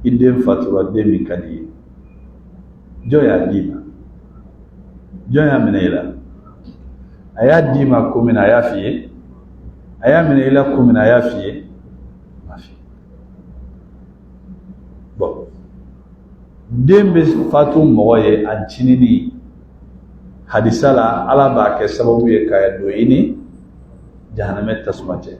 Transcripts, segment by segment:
i den fatura den min ka di i ye jɔn y'a d'i ma jɔn y'a minɛ i la a y'a d'i ma kun min na a y'a f'i ye a y'a minɛ i la kun min na a y'a f'i ye den bɛ fatu mɔgɔ ye a ncinini hadisa la ala b'a kɛ sababu ye k'a don i ni jahanama tasuma cɛ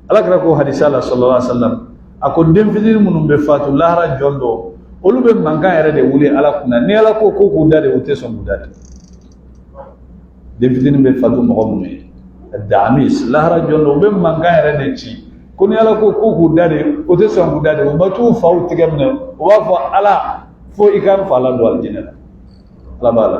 ala kira ko hadisa la sallallahu alaihi wasallam a ko den fitini minnu bɛ fatu lahara jɔ don olu bɛ mankan yɛrɛ de wuli ala kunna ni ala ko ko k'u da de u tɛ sɔn k'u da de den fitini bɛ fatu mɔgɔ minnu ye damis lahara jɔ don u bɛ mankan yɛrɛ de ci ko ni ala ko ko k'u da de u tɛ sɔn k'u da de u ma t'u faw tɛgɛ minɛ u b'a fɔ ala fo i ka n fa ladon alijinɛ la ala b'a la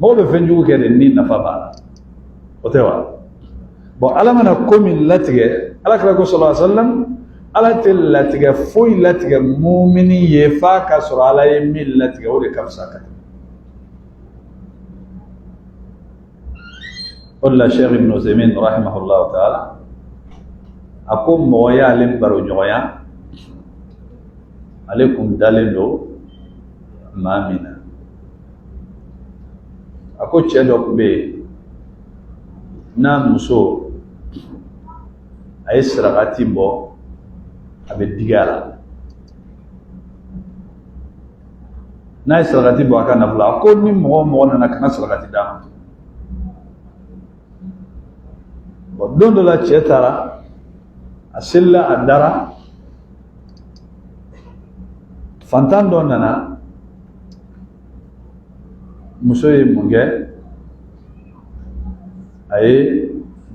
mɔgɔ bɛ fɛn jugu kɛ de ni nafa b'a la o tɛ wa bon ala mana ko min latigɛ ala kira ko sallallahu alaihi wasallam ala tɛ latigɛ foyi latigɛ mumini ye f'a ka sɔrɔ ala ye min latigɛ o de ka fisa ka tɛmɛ o de la sɛki ibn usaimin rahimahullahu taala a ko mɔgɔ y'ale baro ɲɔgɔnya ale kun dalen don maa min na a ko cɛ dɔ kun bɛ yen n'a muso a ye sarakati bɔ a bɛ digi a la n'a ye sarakati bɔ a ka nafolo a ko ni mɔgɔ o mɔgɔ nana kana sarakati d'a ma bon don dɔ la cɛ taara a selila a dara fantan dɔ nana muso ye mun kɛ a ye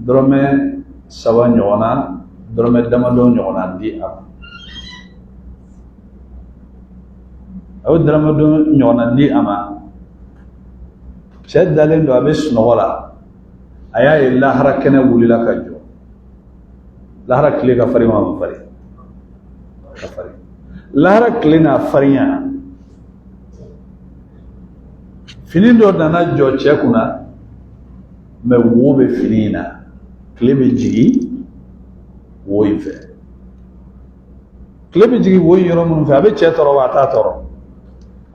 dɔrɔmɛ saba ɲɔgɔnna dɔrɔmɛ damadɔ ɲɔgɔnna di a ma a ye damadɔ ɲɔgɔnna di a ma cɛ dalen don a bɛ sunɔgɔ la a y'a ye lahara kɛnɛ wulila ka jɔ lahara tile ka farin wa a man farin ka farin lahara tile n'a farinya fini dɔ nana jɔ cɛ kunna mais wo bɛ fini in na tile bɛ jigin wo in fɛ tile bɛ jigin wo in yɔrɔ minnu fɛ a bɛ cɛ tɔɔrɔ wa a t'a tɔɔrɔ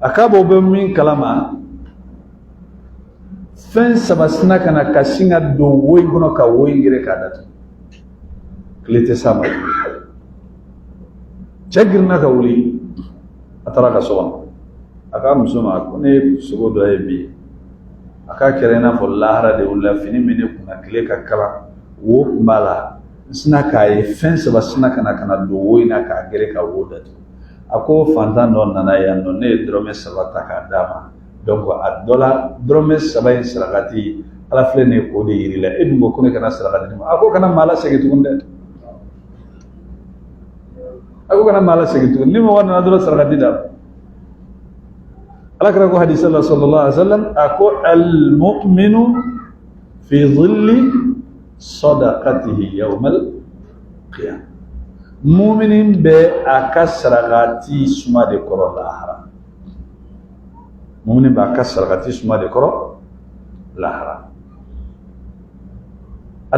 a ka bɔ bɛ min kalama fɛn saba sina ka na ka sin ka don wo in kɔnɔ ka wo in gere k'a datugu tile tɛ s'a ma cɛ girinna ka wuli a taara a ka so kɔnɔ a k'a muso ma ko ne ye sogo dɔ ye bi a k'a kɛra i n'a fɔ lahara de wulila fini min ne kunna tile ka kalan wo kun b'a la n sina k'a ye fɛn saba sina ka na ka na don wo in na k'a gere ka wo datugu a ko fantan dɔ nana yan nɔ ne ye dɔrɔmɛ saba ta k'a d'a ma a dɔ la dɔrɔmɛ saba in sarakati ala filɛ nin ye k'o de yiri la e dun ko ko ne kana saraka di a ma a ko kana maa lasegin tuguni dɛ a ko kana maa lasegin tuguni ni mɔgɔ nana dɔrɔn sarakati d'a ma ala kira ko hadisa la sallallahu alaihi wasallam a ko almu'minu fi dhilli sadaqatihi yawmal qiyam muminin bɛ a ka sarakati suma de kɔrɔ lahara muminin b'a ka sarakati suma de kɔrɔ lahara